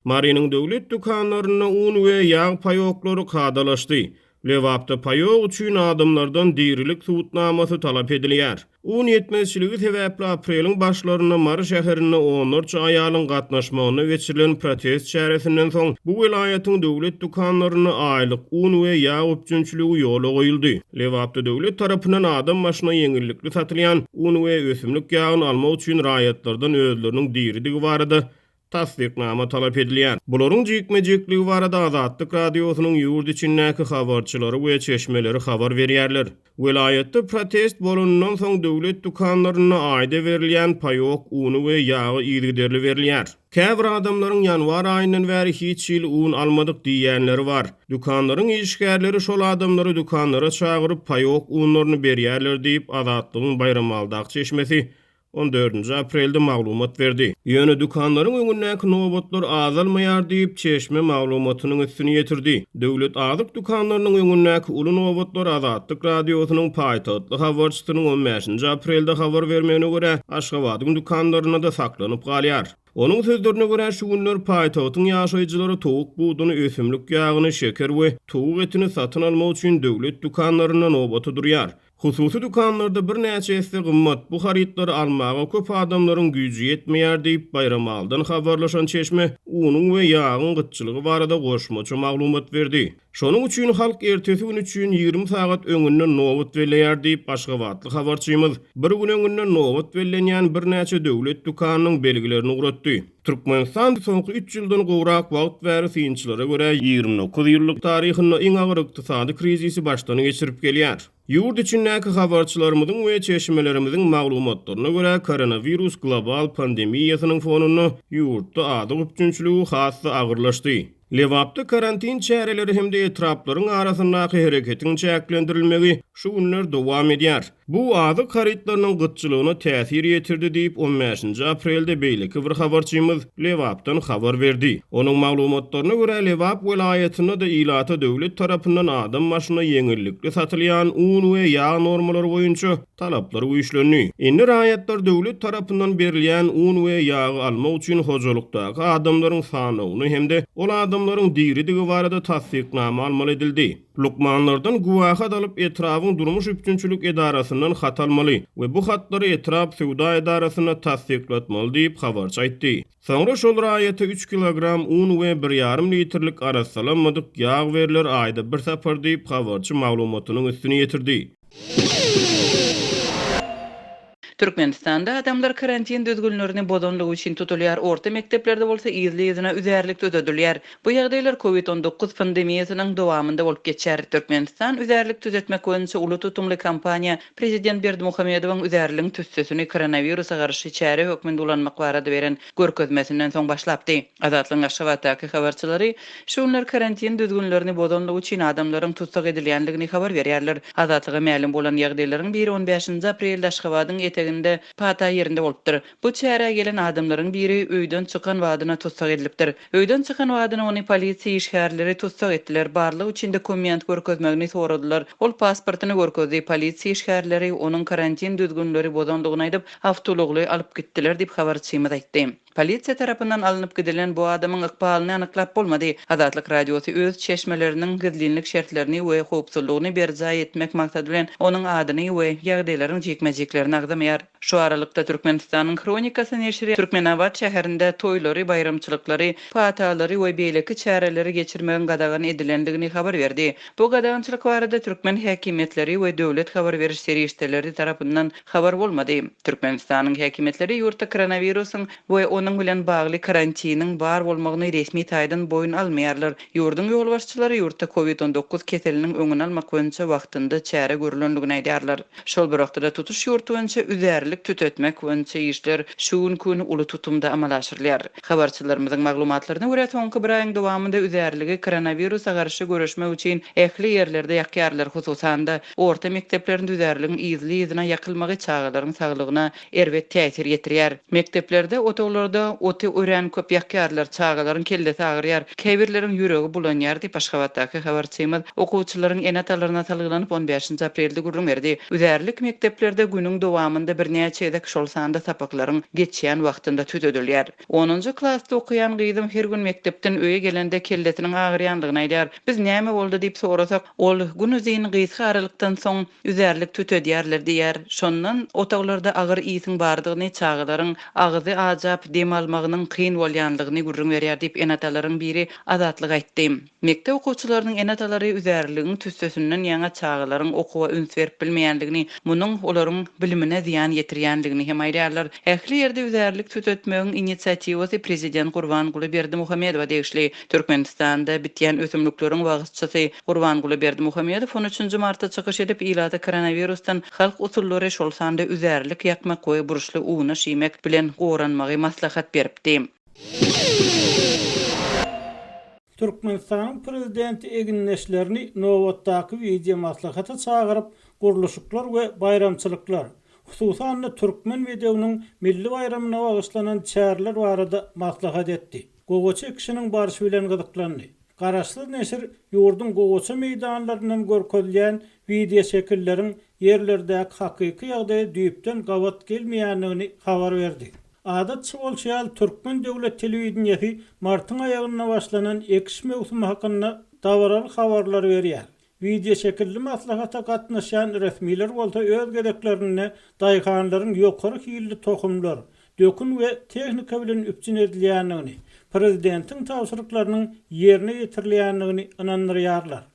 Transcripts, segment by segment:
Marynyň döwlet dükanlarynda un we ýag paýoklary kadalaşdy. Lebapda paýok üçin adamlardan dirilik subutnamasy talap edilýär. Un ýetmezçiligi sebäpli apreliň başlarynda Mary şäherinde onlarça aýalyň gatnaşmagynda geçirilen protest çäresinden soň, bu welaýatyň döwlet dükanlarynda aýlyk un we ýag üpjünçiligi ýola goýuldy. Lebapda döwlet tarapyndan adam başyna ýeňillikli satylýan un we ösümlik ýagyny almak üçin raýatlardan özleriniň diridigi barada tassyknama talap edilýär. Bularyň jikme-jikligi barada Azatlyk Radiosynyň ýurt içindäki habarçylary we çeşmeleri habar berýärler. Welaýatda protest bolanyndan soň döwlet dükanlarynda aýda berilýän paýok uny we ýagy yzygiderli berilýär. Käbir adamlaryň ýanwar aýyndan bäri hiç hili un almadyk diýýänleri bar. Dükanlaryň işgärleri şol adamlary dükanlara çagyryp, paýok unlaryny berýärler diýip, Azatlygyň Baýramaldaky çeşmesi On dördünji aprelde maglumat berdi. Ýöne dükanlaryň öňündäki nobatlar azalmaýar diýip, çeşme maglumatynyň üstüni ýetirdi. Döwlet azyk dükanlarynyň öňündäki uly nobatlar Azatlyk Radiosynyň paýtagtly habarçysynyň on bäşinji aprelde habar bermegine görä, Aşgabadyň dükanlarynda-da saklanyp galýar. Onuň sözlerine görä, şu günler paýtagtyň ýaşaýjylary towuk buduny, ösümlik ýagyny, şeker we towuk etini satyn almak üçin döwlet dükanlarynda nobata durýar. Hususy dükanlarda birnäçe esse gymmat bu harytlary almaga köp adamlaryň güýji ýetmeýär diýip, Baýramalydan habarlaşan çeşme unuň we ýagyň gytçylygy barada goşmaça maglumat berdi. Şonuň üçin halk ertesi gün üçin ýigrimi sagat öňünden nobat belleýär diýip, aşgabatly habarçymyz bir gün öňünden nobat bellenýän birnäçe döwlet dükanynyň belgilerini ugratdy. Türkmenistan soňky üç ýyldan gowrak wagt bäri synçylara görä, ýigrimi dokuz ýyllyk taryhynda iň agyr ykdysady krizisi başdan geçirip gelýär. Ýurt içindäki habarçylarymyzyň we çeşmelerimiziň maglumatlaryna görä, koronawirus global pandemiýasynyň fonunda ýurtda azyk üpjünçiligi has-da agyrlaşdy. Lebapda karantin çäreleri hem-de etraplaryň arasyndaky hereketiň çäklendirilmegi şu günler dowam edýär. Bu azyk harytlarynyň gytçylygyna täsir ýetirdi diýip, on bäşinji aprelde beýleki bir habarçymyz Lebapdan habar berdi. Onuň maglumatlaryna görä, Lebap welaýatynda-da ilata döwlet tarapyndan adam başyna ýeňillikli satylýan un we ýag normalary boýunça talaplary güýçlendi. Indi raýatlar döwlet tarapyndan berilýän un we ýagy almak üçin hojalykdaky adamlaryň sanawyny hem-de ol adamlaryň diridigi barada tassyknama almaly edildi. Lukmanlardan güwähat alyp, etrabyň durmuş üpjünçilik edarasyndan hat almaly we bu hatlary etrap söwda edarasynda tassyklatmaly diýip, habarçy aýtdy. Soňra şol raýata üç kilogram un we bir ýarym litrlik arassalanmadyk ýag berler, aýda bir sapar diýip, habarçy maglumatynyň üstüni ýetirdi. Türkmenistanda adamlar karantin düzgünlerini bozanlygy üçin tutulýar, orta mekdeplerde bolsa yzly-yzyna üzärlik düzedilýär. Bu ýagdaýlar Covid on dokuz pandemiýasynyň dowamynda bolup geçer. Türkmenistan üzärlik düzetmek boýunça uly tutumly kampaniýa Prezident Berdimuhamedowyň üzärligiň tüssesini koronawirusa garşy çäre hökmünde ulanmak barada beren görkezmesinden soň başlapdy. Azatlygyň Aşgabatdaky habarçylary şu günler karantin düzgünlerini bozandygy üçin adamlaryň tussag edilýändigini habar berýärler. Azatlyga mälim bolan ýagdaýlaryň biri on bäşinji aprelde Aşgabadyň eteginde Pata ýerinde bolupdyr. Bu çärä gelen adamlaryň biri öýden çykan badyna tussag edilipdir. Öýden çykan badyna ony polisiýa işgärleri tussag etdiler, barlag üçin dokument görkezmegini soradylar. Ol pasportyny görkezdi, polisiýa işgärleri onuň karantin düzgünleri bozandygyny aýdyp, awtoulagly alyp gitdiler diýip, habarçymyz aýtdy. Polisiýa tarapyndan alnyp gidilen bu adamyň ykbalyny anyklap bolmady. Azatlyk Radiosy öz çeşmeleriniň gizlinlik şertlerini we howpsuzlygyny berjaý etmek maksady bilen onuň adyny we ýagdaýlaryň jikme-jiklerini agzamaýar. Şu aralykda Türkmenistanyň Hronikasy neşiri Türkmenabat şäherinde toýlary, baýramçylyklary, patalary we beýleki çäreleri geçirmegiň gadagan edilendigini habar berdi. Bu gadagançylyk barada türkmen häkimiýetleri we döwlet habar beriş serişdeleri tarapyndan habar bolmady. Türkmenistanyň häkimiýetleri ýurtda koronawirusyň we onuň bilen bagly karantiniň bar bolmagyny resmi taýdan boýun almaýarlar. Ýurduň ýolbaşçylary ýurtda Covid on dokuz keseliniň öňüni almak boýunça wagtynda çäre görülendigini aýdýarlar. Şol bir wagtda-da tutuş ýurt boýunça üzärlik tütetmek boýunça işler şu günki-gün uly tutumda amala aşyrylýar. Habarçylarymyzyň maglumatlaryna görä, soňky bir aýyň dowamynda üzärligi koronawirusa garşy göreşmek üçin ähli ýerlerde ýakýarlar, hususan-da, orta mekdeplerinde üzärligiň yzly-yzyna ýakylmagy çagalaryň saglygyna erbet täsir ýetirýär. Mekdeplerde otaglarda oty örän köp ýakýarlar, çagalaryň kellesi agyrýar, käbirleriň ýüregi bulanýar diýip, Aşgabatdaky habarçymyz okuwçylaryň ene-atalaryna salgylanyp, on bäşinji aprelde gürrüň berdi. Üzärlik mekdeplerde günüň dowamynda birnäçe gezek, şol sanda sapaklaryň geçýän wagtynda tüzedilýär. Onunjy klasda okaýan gyzym her gün mekdepden öýe gelende kellesiniň agyrýandygyny aýdýar. Biz näme boldy diýip sorasak, ol, Gün uzyn, gysga aralykdan soň, üzärlik tütedýärler diýýär. Şondan otaglarda agyr ýsiň bardygyny, çagalaryň agyzy ajap, dem almagynyň kyn bolýanlygyny gürrüň berýär diýip, ene-atalaryň biri Azatlyga aýtdy. Mekdep okuwçylarynyň ene-atalary üzärligiň tüssesinden ýaňa çagalaryň okuwa üns berip bilmeýänligini, munuň olaryň bilimine zyýan ýetirýänligini hem aýdýarlar. Ähli ýerde üzärlik tütetmegiň inisiatiwasy prezident Gurbanguly Berdimuhamedowa degişli. Türkmenistanda bitýän ösümlikleriň wagyzçysy Gurbanguly Berdimuhamedow on üçünji martda çykyş edip, ilata koronawirusdan halk usullary, şol sanda üzärlik ýakmak we burçly unaş iýmek bilen goranmagy maslahat beripdi. Türkmenistanyň Prezidenti egindeşlerini nobatdaky wideomaslahata çagyryp, gurluşyklar we baýramçylyklar, hususan-da, türkmen bedewiniň milli baýramyna bagyşlanan çäreler barada maslahat etdi. gowaça ekişiniň barşy bilen gyzyklandy. Garaşsyz neşir ýurduň gowaça meýdanlaryndan görkezilýän wideoşekilleriň ýerlerdäki hakyky ýagdaýa düýpden gabat gelmeýändigini habar berdi. Adatça bolşy ýaly, türkmen döwlet telewideniýesi martyň aýagynda başlanan ekiş möwsümi hakynda dabaraly habarlary berýär. Wideoşekilli maslahata gatnaşýan resmiler bolsa öz gezeklerinde daýhanlaryň ýokary hilli tohumlar, dökün we tehnika bilen üpjün edilýändigini, prezidentiň tabşyryklarynyň ýerine ýetirilýändigini ynandyrýarlar.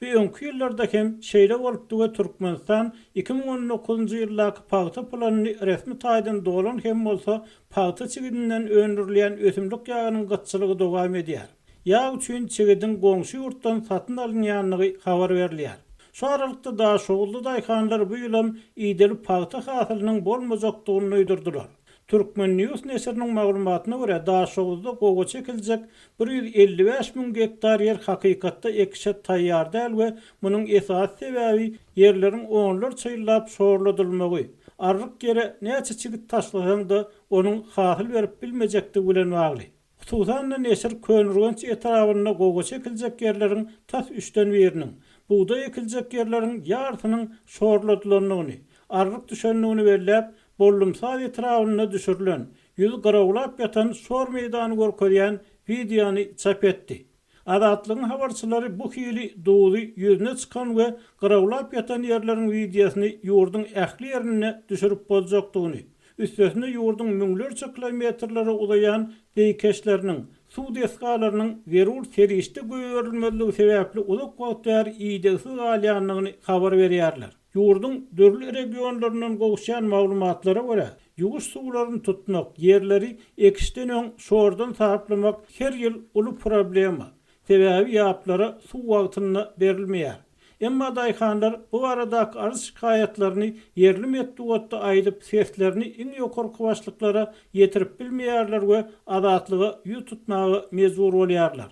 Bu öňki ýyllarda hem şeýle bolupdy we Türkmenistan iki müň on dokuzynjy ýyldaky pagta planyny resmi taýdan dolan hem bolsa pagta çigidinden öndürilýän ösümlik ýagynyň gytçylygy dowam edýär. ýag üçin çigidiň goňşy ýurtdan satyn alynýandygy habar berilýär. Şu aralykda, daşoguzly daýhanlar bu ýylam ideli pagta hasylynyň bolmajakdygyny duýdurdylar. Turkmen. News neşiriniň maglumatyna görä, Daşoguzda gowaça ekiljek bir ýüz elli bäş müň gektar ýer hakykatda ekişe taýýar däl we munuň esasy sebäbi ýerleriň onlarça ýyllap şorladylmagy, arryk ýere näçe çigit taşlasaň-da, onuň hasyl berip bilmejekdigi bilen bagly. Hususan-da, neşir Köneürgenç etrabynda gowaça ekiljek ýerleriň tas üçden biriniň, bugdaý ekiljek ýerleriň ýarysynyň şorladylandygyny, arryk düşendigini belläp, Bollumsaz etrabynda düşürilen, ýüzi gyrawlap ýatan şor meýdany görkezýän wideony çap etdi. Azatlygyň habarçylary bu hili duzy ýüzüne çykan we gyrawlap ýatan ýerleriň wideosyny ýurduň ähli ýerinde düşürip boljakdygyny, üstesine ýurduň müňlerçe kilometrlere uzaýan zeýkeşleriniň, suw desgalarynyň zerur serişde goýberilmezligi sebäpli uzak wagt bäri idegsiz galýandygyny habar berýärler. Ýurduň dürli regionlaryndan gowuşýan maglumatlara görä, ýuwuş suwlaryny tutmak, ýerleri ekişden öň şordan saplamak her ýyl uly problema. Sebäbi ýaplara suw wagtynda berilmeýär. Emma daýhanlar bu baradaky arz-şikaýatlaryny ýerli metbugatda aýdyp, seslerini iň ýokarky başlyklara ýetirip bilmeýärler we Azatlyga ýüz tutmaga mejbur bolýarlar.